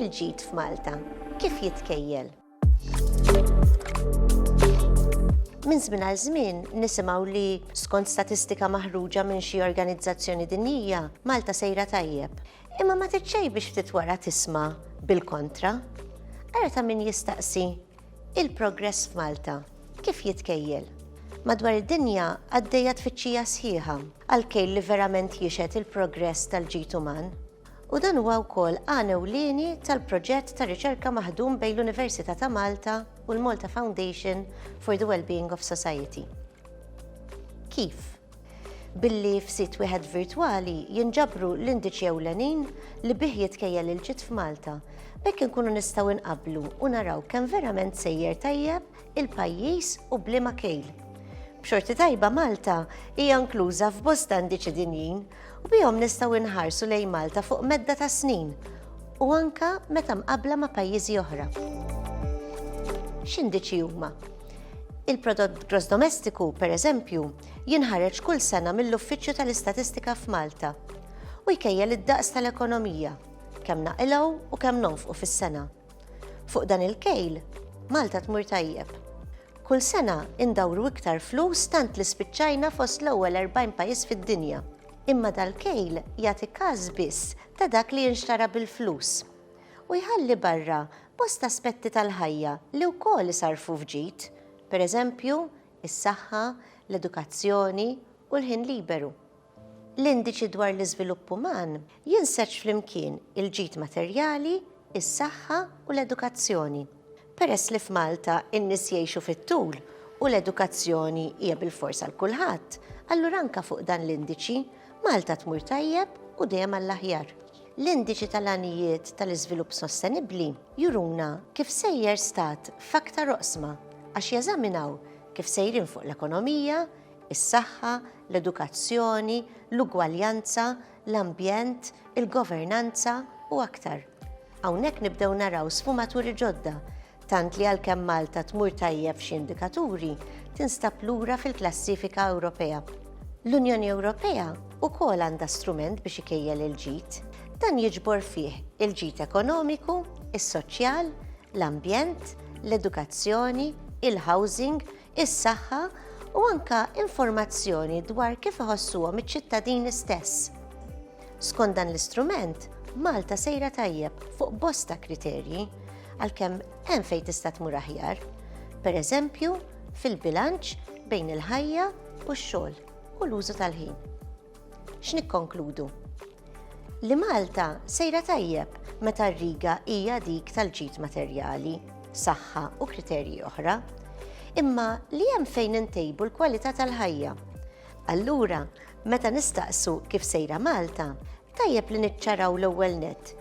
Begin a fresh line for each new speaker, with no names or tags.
Il-ġid f'Malta, kif jitkejjel? Minn żmien għal żmien nisimgħu li, skont statistika maħruġa minn xi organizzazzjoni dinjija, Malta sejra tajjeb. Imma ma titxejn biex ftit wara tisma' bil-kontra. Ara ta' min jistaqsi, il-progress f'Malta, kif jitkejjel? Madwar id-dinja għaddejja tfittxija sħiħa għal kejl li verament jixhed il-progress tal-ġid uman. u dan huwa wkoll għan ewlieni tal-proġett ta' riċerka maħdum bejn l-Università ta' Malta u l-Malta Foundation for the Wellbeing of Society. Kif? Billi f'sit wieħed virtwali jinġabru l-indiċi ewlenin li bih jitkejjel il-ġid f'Malta, b'hekk inkunu nistgħu nqabblu u naraw kemm verament sejjer tajjeb il-pajjiż u b'liema kejl. B'xorti tajba Malta hija inkluża f'bosta indiċi dinjin u bihom nistgħu nħarsu lejn Malta fuq medda ta' snin u anke meta mqabbla ma' pajjiżi oħra. X'indiċi huma? Il-prodott gross domestiku, pereżempju, jinħareġ kull sena mill-Uffiċċju tal-Istatistika f'Malta u jkejjel id-daqs tal-ekonomija, kemm naqilgħu u kemm nonfqu fis-sena. Fuq dan il-kejl, Malta tmur tajjeb. Kull sena indawru iktar flus tant li spiċċajna fost l-ewwel 40 pajjiż fid-dinja. Imma dal-kejl jagħti każ biss ta' dak li jinxtara bil-flus. U jħalli barra bosta aspetti tal-ħajja li wkoll isarrfu f'ġid, pereżempju, is-saħħa, l-edukazzjoni u l-ħin liberu. L-Indiċi dwar l-Iżvilupp Uman jinseġ flimkien il-ġid materjali, is-saħħa u l-edukazzjoni. Peress li f'Malta n-nies jgħixu fit-tul u l-edukazzjoni hija bilfors għal kulħadd, allura anke fuq dan l-indiċi, Malta tmur tajjeb u dejjem għall-aħjar. L-Indiċi tal-Għanijiet tal-Iżvilupp Sostenibbli juruna kif sejjer stat f'aktar oqsma għax jeżaminaw kif sejrin fuq l-ekonomija, is-saħħa, l-edukazzjoni, l-ugwaljanza, l-ambjent, il-governanza u aktar. Hawnhekk nibdew naraw sfumaturi ġodda, tant li għalkemm Malta tmur tajjeb f'xi indikaturi, tinstab lura fil-klassifika Ewropea. L-Unjoni Ewropea wkoll għandha strument biex ikejjel il-ġid. Dan jiġbor fih il-ġid ekonomiku, is-soċjal, l-ambjent, l-edukazzjoni, il-housing, is-saħħa u anke informazzjoni dwar kif iħossuhom iċ-ċittadini stess. Skont dan l-istrument, Malta sejra tajjeb fuq bosta kriterji, għalkemm hemm fejn tista' tmur aħjar, pereżempju fil-bilanċ bejn il-ħajja u x-xogħol u l-użu tal-ħin. X'nikkonkludu? Li Malta sejra tajjeb meta r-riga hija dik tal-ġid materjali, saħħa u kriterji oħra, imma li hemm fejn intejbu l-kwalità tal-ħajja. Allura, meta nistaqsu kif sejra Malta, tajjeb li niċċaraw l-ewwel nett